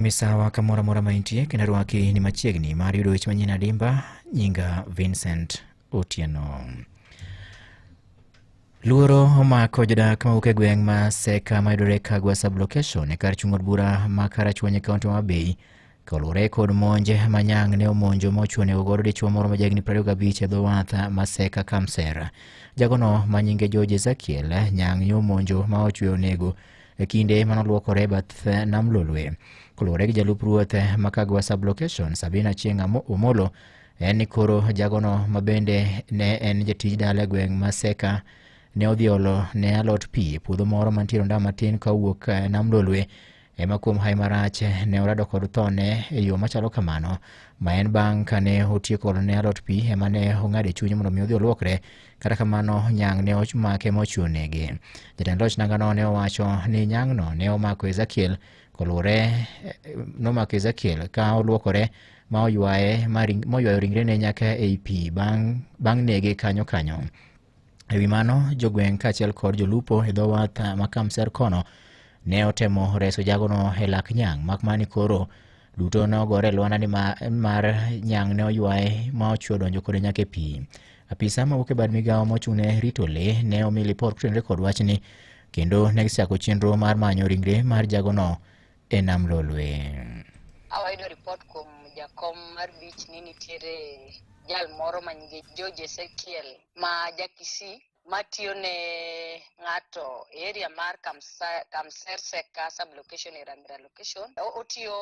Misawa kamoro amora ma intie kendo rwaki ni machiegni mar yudo weche manyien adimba. Nyinga Vincent Otieno. Luoro omako jodak mawuok e gweng' ma Seka mayudore Kagwa sublocation e kar chung' od bura ma Karachuonyo e kaunti ma Homa Bay kaluwore kod monje ma Nyang' ne omonjo ma ochuo nego godo dichwo moro ma jahigni 25 e dho wath ma Seka Kamser. Jagono ma nyinge George Ezekiel Nyang' ne omonjo ma ochwe onego e kinde mane olwokore e bath eh, nam Lolwe. Koluwore gi jalup ruoth eh, ma Kagwa sublocation Sabina Chieng' Amo- Omolo en ni koro jagono ma bende ne en jatij dala e gweng' ma Seka ne odhi olo ne alot pi e puodho moro mantiere nda matin ka owuok eh, nam Lolwe ema kuom hae marach eh, ne orado kod thone e yo machalo kamano ma en bang' kane otieko olo ne alot pi ema ne ong'ado e chunye mondo mi odhi olwokre Kata kamano, Nyang' ne omake mochwo nege. Jatend loch nangano ne owacho ni Nyang'no ne omako Ezekiel koluwore eh, nomako Ezekiel ka olwokore ma oywaye ma ring- moywayo ringrene nyaka ei pi bang' bang' nege kanyo kanyo. E wi mano, jogweng' kaachiel kod jolupo e dho wath ma Kamser kono ne otemo reso jagono e lak Nyang', mak mana ni koro duto ne ogore e lwanda ni ma- mar Nyang' ne oywaye ma ochwo donjo kode nyaka e pi. Apisa mawuok e bad migawo mochung'ne rito le ne omi lipot kotenore kod wachni kendo ne gisechako chenro mar manyo ringre mar jagono e nam Lolwe. Awayudo ripot kuom jakom mar beach ni nitiere jal moro ma nyinge George Ezekiel ma jakisi matiyo ne ng'ato e area mar Kamsa- Kamserseka sublocation e Ramira location. O- Otiyo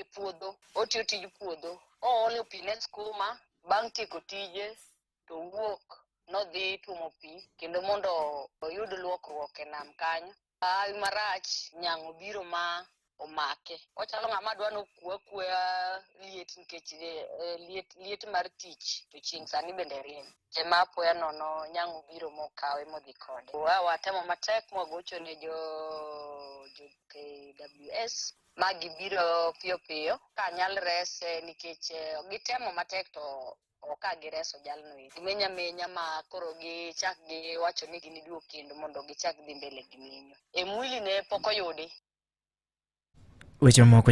e puodho otiyo tij puodho oolo pi ne skuma bang' tieko tije to wuok nodhi tuomo pi kendo mondo oyud luokruok e nam kanyo hawi marach nyang' obiro ma omake ochalo ng'ama dwa nokwo akwoya liet nikech eh, eh, liet, liet mar tich to chieng' sani bende rieny ema apoya nono nyang' obiro mokawe modhi kode watemo matek mwagocho ne jo jo KWS ma gibiro piyo piyo ka nyal rese nikech eh, gitemo matek to ka gireso jalno eki menya menya ma koro gichak giwacho ni giniduog kendo mondo gichak dhi mbele gi menyo e mwili ne pok oyudi weche moko